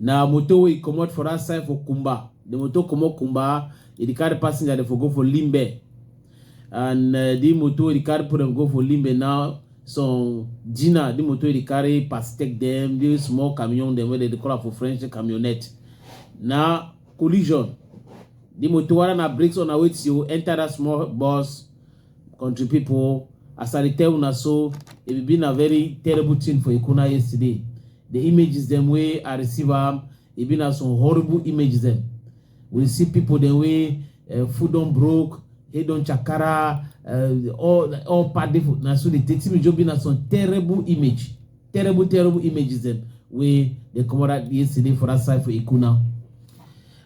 Na motor wey e comot for that side for Kumba. The motor comot Kumba, e dey carry passenger dey for go for Limbe. And uh, the motor wey dey carry put them go for Limbe now, some Gina, the motor wey dey carry pass take them, the small camion them wey they dey call am for French the camionnette. Na collision. The motor whether na brakes or na wetin you enter that small bus, country people, as I dey tell una so, e be been a very terrible thing for Ikuna yesterday. The images dem wey I receive am, e be na some horrible images dem. We see people dem wey uh, food don broke, head don chakara, uh, all all part dey for na so dey take me just be na some terrible image, terrible terrible images dem wey dey comot out yesterday for that side for Ikuna.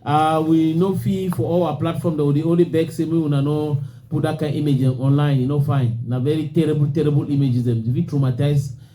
Uh, we no fit for all our platform that we dey only beg say make una no put that kind image dem online, e no fine. Na very terrible terrible images dem, e fit traumatize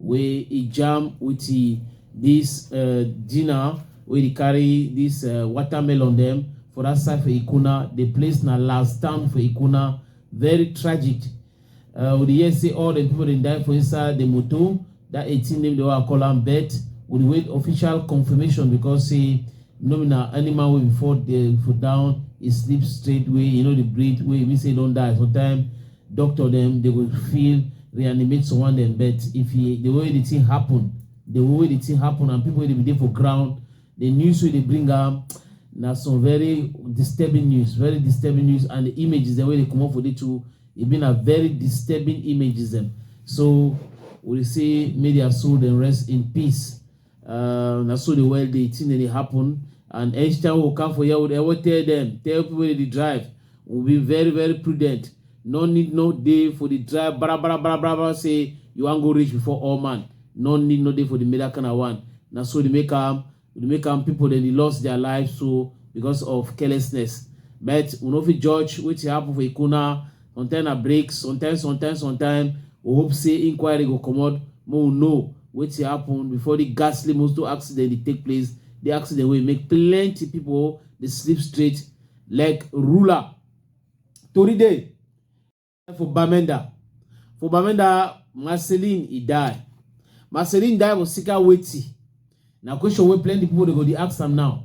wey e jam with this uh, dinner wey dey carry this uh, watermelon dem for that side for ikuna the place na last town for ikuna very tragic uh, we dey hear say all the people dey die for inside the motor that 18 name dey wan call am bet we dey wait official confirmation because say no be na animal wey before dey for down e sleep straight way e no dey breathe way e mean say e don die sometimes doctor dem dey go feel reanimate someone dem but if e the way the thing happen the way the thing happen and people wey dey be dey for ground the news wey dey bring am na some very disturbing news very disturbing news and the images dem wey dey comot for the two e be na very disturbing images dem so we dey say may their soul dem rest in peace. Uh, na so the world dey thing dey happen and each time we come for here we dey always tell them tell people wey dey drive we be very very prudent no need no dey for the drive bara bara bara bara bara say you wan go reach before all man no need no dey for the middle kind of one na so dey make am dey make am people dem dey lost their life so because of carelessness but we no fit judge wetin happen for ikuna sometimes na break sometimes sometimes sometimes we hope say inquiry go comot make we know wetin happen before di ghastly motor accident dey take place di accident wey make plenty pipo dey sleep straight like ruler tori dey for bamenda for bamenda marceline e die marceline die for sika wetin na question wey plenty pipo dey go dey ask am now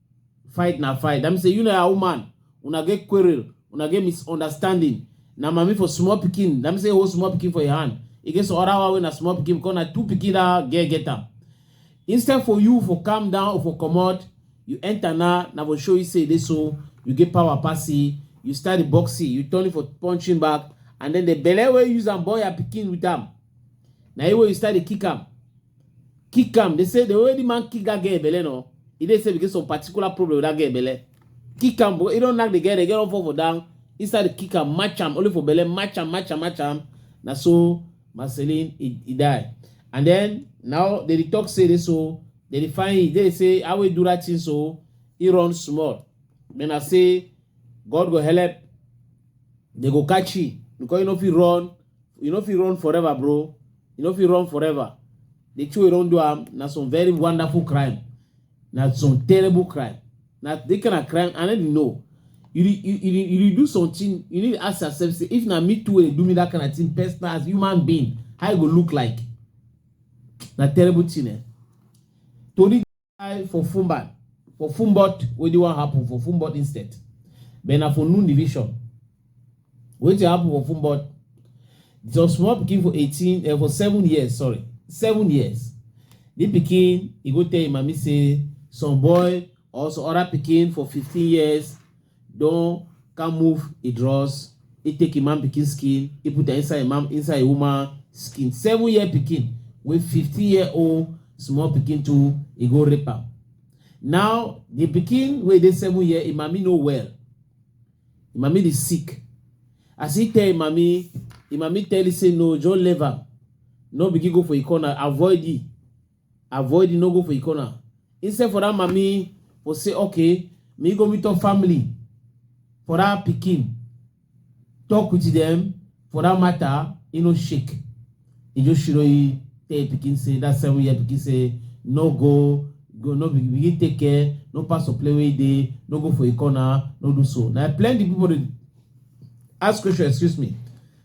fight na fight that mean say you na your woman una get quarrel una get misunderstanding na mami for small pikin that mean say you hold small pikin for your hand e get some other one wey na small pikin because na two pikin that girl get am instead for you for calm down or for comot you enter na na for show you say e dey so you get power pass e you start the boxing you turn it for punching back and then the belle wey use am born your pikin with am na you wey you start dey kick am Kick am. They say the way the man kick that girl belle no, he dey say because some particular problem with that girl belle. Kick am, but he don't knock the girl, the girl don't fall for down. He started kick am, match am, only for belle, match am, match am, match am. Na so Marceline he, he die. And then now they dey talk say this so they dey find him. They dey say how we do that thing so he run small. Then I say God go help, they go catch him because he no fit run you no fit run forever bro you no fit run forever the two wey don do am na some very wonderful crime na some terrible crime na the kind of crime i no dey know you dey you, you, you dey do something you need to ask yourself say if na me too wey dey do me that kind of thing personal as human being how e go look like na terrible thing eh tori. I for Fumbat, for Fumbot, what do want happen for Fumbot instead? But na for noon division. What do happen for Fumbot? Some small pikin for eighteen, uh, for seven years, sorry, seven years. The pikin, he go tell him, mommy say, some boy or some other pikin for fifteen years Don come move e dross, e take im man pikin skin, e put am inside im man inside im woman skin. Seven year pikin wey fifteen year old small pikin too, e go rape am. Now the pikin wey dey seven year, im mami no well, im mami dey sick. As e tell im mami, im mami tell e say no, just leave am, no begin go for e corner, avoid e. avoid no go for e corner instead for that mami for say okay me go meet up family for that pikin talk with them for that matter e no shake e just shiro e tell e pikin say that seven year pikin say no go go no be begin take care no pass or play wey e dey no go for e corner no do so na plenty people dey ask question excuse me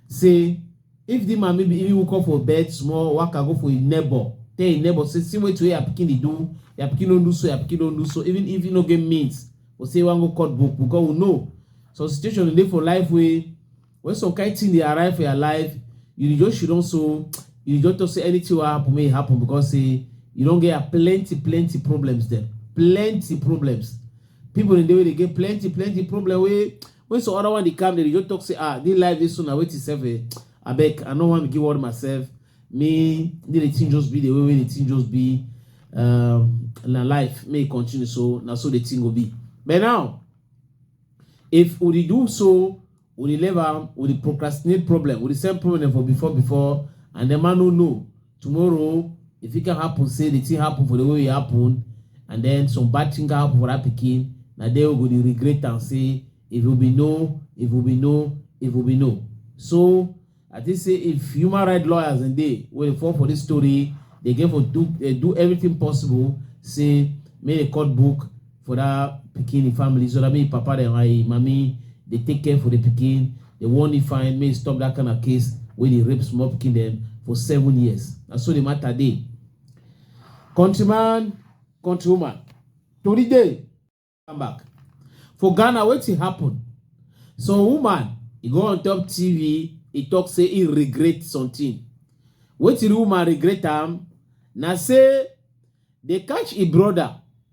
say If di man maybe even woke up for bed small, waka go for im neighbor, tell im neighbor say see wetin wey your pikin dey do, your pikin don do so, your pikin don do so, even if e no get means or say e wan go cut book because we know some situation dey for life wey when some kind thing dey arrive for your life, you dey just shudon so, you dey just talk say anything wey happen make e happen because say you don get plenty plenty problems dem, plenty problems. People dey dey wey dey get plenty plenty problem wey When some other one they come, they just talk say, ah, this life this soon, I wait itself. Eh. I beg, I don't want to give word myself. Me, need the thing just be the way, way the thing just be. Um, na life may continue so now so the thing will be. But now, if we do so, we level, we procrastinate problem, we send problem for before before, and the man who know tomorrow e fit can happen say the thing happen for the way e happen and then some bad thing can happen for that pikin na there we go dey regret am say if we be know if we be know if we be know so i think say if human rights lawyers and dey wey dey fall for this story dey get for do dey do everything possible say make the court book for that pikin the family so that mean papa dem and him mami dey take care for the pikin dey warn him fine make stop that kind of case wey dey rape small pikin dem for seven years na so the matter dey countryman countrywoman tori dey come back for ghana wetin happen some woman e go on top tv e talk say e regret something wetin the woman regret am na say dey catch e brother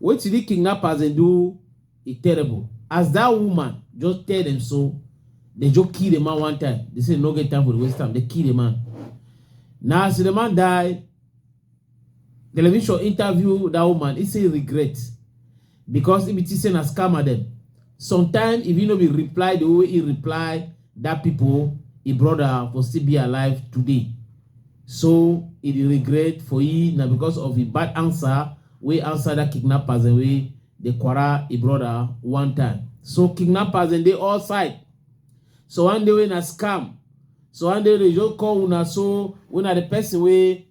Wetin di kidnappers dem do e terrible as dat woman just tell dem so dem just kill di man one time dem say dem no get time for di waste time dem kill di man na as di man die television interview dat woman e say regret because e be think say na scammer dem sometimes if e no be reply di way e reply dat pipo e brother for still be alive today so e dey regret for e na because of e bad answer wey outsider kidnappers dem wey dey quarrel e brother one time. So kidnappers dem dey all side. So one day wey na scam. So one day they just call una so wey na the person wey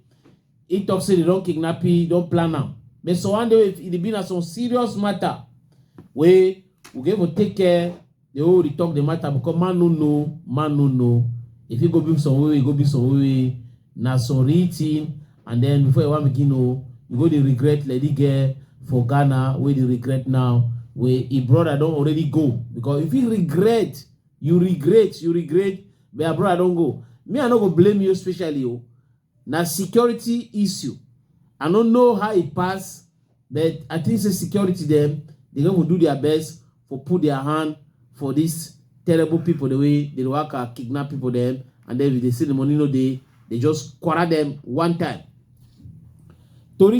he talk say they don kidnap you, don plan am. But so one day if e dey be na some serious matter wey we go even take care dey hold dey talk the matter because man no know man no know e fit go be some way e go be some way na some real thing and then before you wan begin know you go dey regret lady girl for ghana wey dey regret now wey e brother don already go because if you regret you regret you regret but your brother don go me i no go blame you especially o Na security issue. I no know how e pass, but I think say security dem dey go do their best for put their hand for this terrible people the way they waka kidnap people dem and then if they see the money no dey, they just quarter them one time. Tori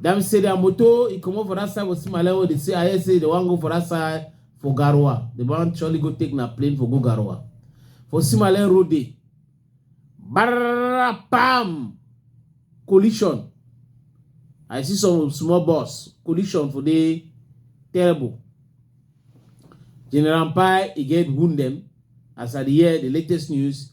Dem say their motor, he comot for that side for Simale wey dey say I hear say they wan go for that side for Garoua. They wan surely go take na plane for go Garoua. For Simale road dey. Barra pam! Collision. I see some small bus. Collision for dey terrible. General Mpai, e get wound dem. As I dey hear the latest news,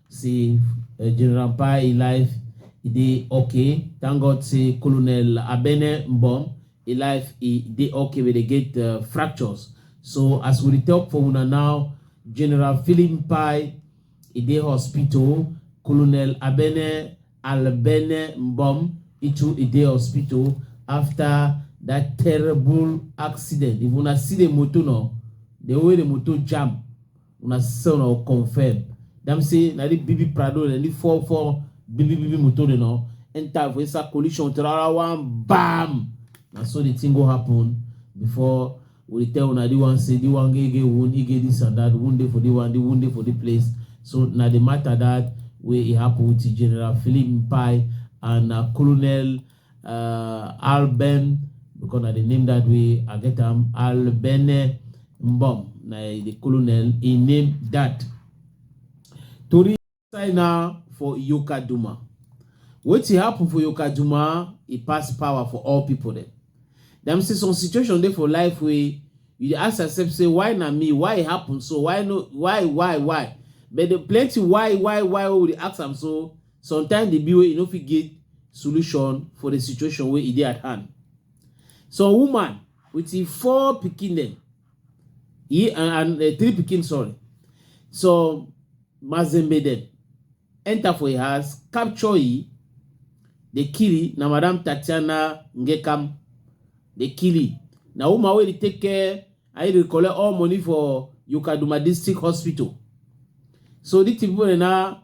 say uh, General Pai life e dey okay. Thank God say Colonel Abene Mbom e life e dey okay wey dey get uh, fractures. So as we dey talk for una now, General Philip Pai e dey hospital. Colonel Abene Albene Mbom e too e dey hospital after that terrible accident. If una see the motor now, the way the motor jam una sɛ una o confirm dam se na di bibi prado le li fo fo bibi bibi moto de no enta vo esa collision trara one bam na so the thing go happen before we tell una the one say the one get get wound he get this and that wound dey for the one the wound dey for the place so na the matter that wey e happen with general philip mpai and na colonel uh, Alben, because I the name that way, I get am Albene Mbom. Now the colonel, he named that. Tori sign now for Yoka Duma. What happen for Yoka Duma, he pass power for all people there. Them see some situation there for life where you ask yourself, say, why not me? Why it happen? So why no why, why, why? But the plenty why, why, why we ask them so Sometimes the be wey you no fit get solution for the situation where it at hand. Some woman with the four picking them, he and, and uh, three picking sorry. So Mazembe them enter for a house, capture he, they kill he, na Madame Tatiana Ngekam, they kill he. Now woman where they take care, I will collect all money for Yukaduma District Hospital. So these people are now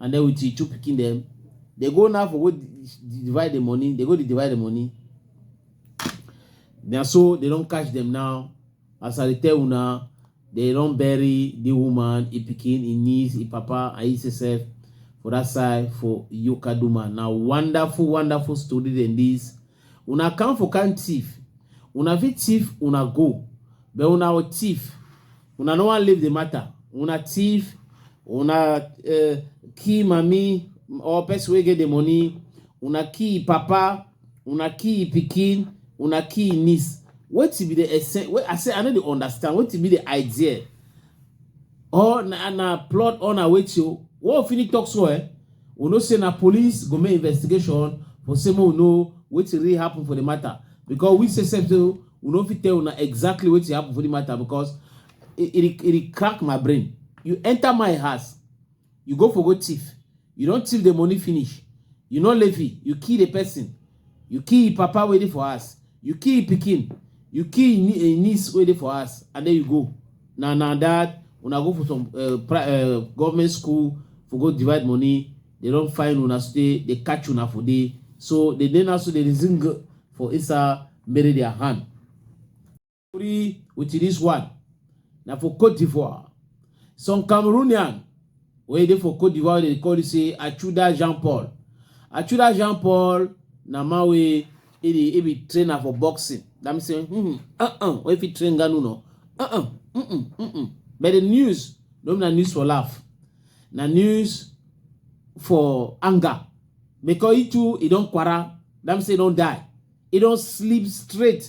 and then with the two picking them, they go now for go divide the money they go to divide the money Now so they don't catch them now as i tell you now, they don't bury the woman e pikin e niece e papa and e sef for that side for yokaduma Now wonderful wonderful story than this una come for kind thief una fit thief una go but una thief Una no wan leave the matter. Una thief, una uh, kill mami or person wey get the money, una kill papa, una kill pikin, una kill niece. Wetin be the essence? Wey I say I no dey understand. Wetin be the idea? Or na na plot or na wetin? What we finish talk so eh? We know say na police go make investigation for say make we know wetin really happen for the matter because we say sef say we no fit tell una exactly wetin happen for the matter because e e dey- e dey crack my brain you enter my house you go for go thief you don thief the money finish you no levy you kill the person You kill him papa wey dey for house, you kill him pikin, you kill him nie- him niece wey dey for house and then you go. Na na that una go for some uh, pri- uh, government school for go divide money, they don find una stay, they catch una for there. So the day now so they dey sing for inside bury their hand. story with this one na for cote d'ivoire some cameroonian wey dey for cote d'ivoire dey call say achuda jean paul achuda jean paul na man wey e dey e be trainer for boxing that mean say hmm uh uh wey fit train ganu no uh uh mm mm mm mm but the news no be na news for laugh na news for anger because e too e don kwara that mean say e don die e don sleep straight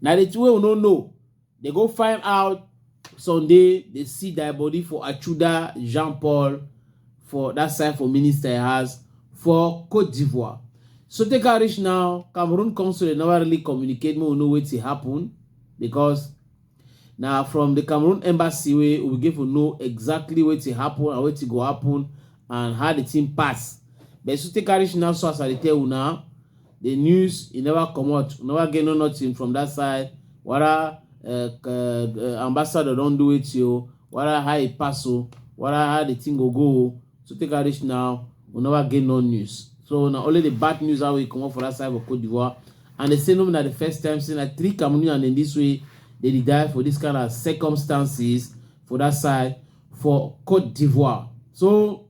Na the thing wey we no know. They go find out Sunday, they see thy body for Achuda Jean Paul for that side for Minister House for Cote d'Ivoire. So take her reach now, Cameroon Council they never really communicate, we know what happened because now from the Cameroon embassy we we give to know exactly what happened and what go happen and how the thing pass. But so take her reach now, so as I tell you now, the news e never comot we never get no nothing from that side whether uh, uh, uh, ambassador don do it o whether how e pass o whether how the thing go go o so take am reach now we never get no news so na only the bad news how e comot for that side for cote d'ivoire and they say no be na the first time say na three cameroonians in this way dey die for this kind of circumstances for that side for cote d'ivoire so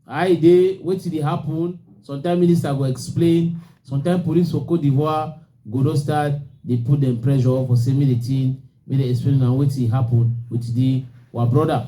How e dey, wetin dey happen, sometimes minister go explain, sometimes police for Cote d'Ivoire go don start dey put dem pressure for say make the thing, make dem explain na wetin happen with the our brother.